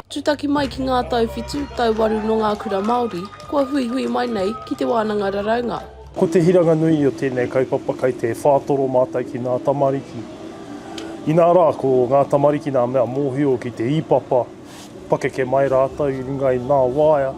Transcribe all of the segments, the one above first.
Tūtaki mai ki ngā tau whitu, tau waru nō ngā kura Māori, kua huihui mai nei ki te wānanga raraunga. Ko te hiranga nui o tēnei kaupapa kei te whātoro mātou ki ngā tamariki. Inā rā, ko ngā tamariki ngā mea mōhio ki te īpapa, pakeke mai rātou i runga i ngā waea,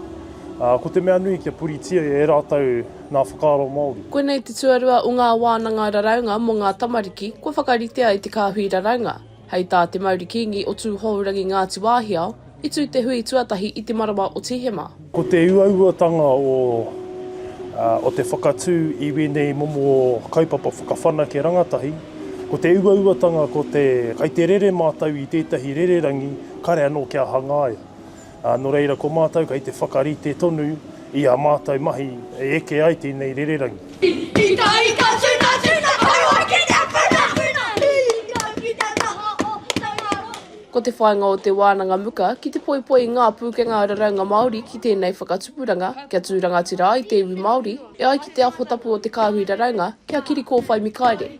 ā, ko te mea nui kia puritia e rātou, ngā whakaaro Māori. Koinei te tuarua o ngā wānanga raraunga mō ngā tamariki kua whakaritea e te kāhui raraunga. Hei tā Te Mauri Kīngi o Tūhourangi Ngāti Wāhiao, i tū te hui tuatahi i te marama o Tīhema. Ko te uauatanga o te whakatū i wēnei momo kaupapa whakawhanake rangatahi, ko te uauatanga ko te kai te rere mātou i tētahi rererangi kare anō kia hangaia. Ā, nō reira ko mātou kei te whakarite tonu i ā mātou mahi e eke ai tēnei rererangi. Pītārika tuna tuna koroa ki te puna puna Pīrika ki te taha o te waro. Ko te whāinga o Te Wānanga Muka ki te poipoi i ngā pūkenga raraunga Māori ki tēnei whakatupuranga kia tū rangatira ai te iwi Māori e ai ki te aho tapu o te kāhui raraunga kia kiri kōwhai mikaere.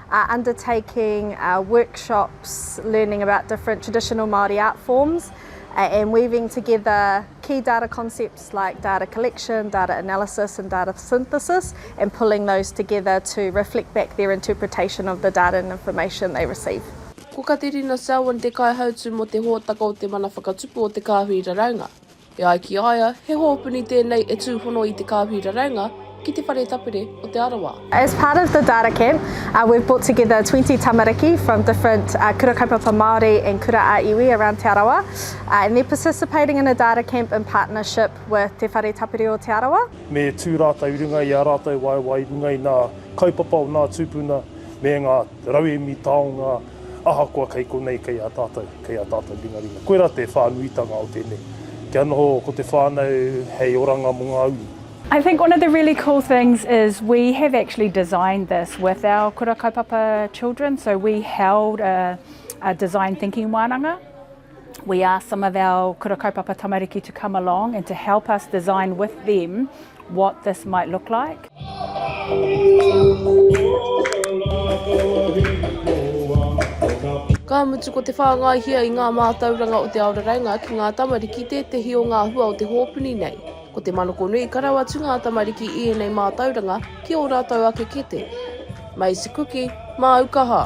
are undertaking workshops learning about different traditional Māori art forms and weaving together key data concepts like data collection, data analysis and data synthesis and pulling those together to reflect back their interpretation of the data and information they receive. Ko Katerina Selwyn te Kaihautu mō te Hōtaka o Te Mana Whakatupu o Te Kāhui Raraunga. E ai ki a ia, he hōpuni tēnei e tūhono i te kāhui raraunga ki Te Whare Tapere o Te Arawa. As part of the data camp, we've brought together twenty tamariki from different Kura Kaupapa Māori and Kura ā Iwi around Te Arawa and they're participating in a data camp in partnership with Te Whare Tapere o Te Arawa. Me tū rātou i runga i ā rātou waewae i runga i ngā kaupapa o ngā tūpuna me ngā. Rauemi taonga ahakoa kei konei kei a tātou, kei a tātou ringaringa. Koirā te whānuitanga o tēnei, kia noho ko te whānau hei oranga mō ngā uri. I think one of the really cool things is we have actually designed this with our Kura Kaupapa children, so we held a design thinking wānanga. we asked some of our Kura Kaupapa Tamariki to come along and to help us design with them what this might look like. Ka mutu ko te whāngaihia i ngā mātauranga o te ao raraunga ki ngā tamariki tētehi o ngā hua o te hōpuni nei. Ko te manokonui karau atu ngā tamariki i ēnei mātauranga ki ō rātou ake kete. Maize cookie, māu kaha.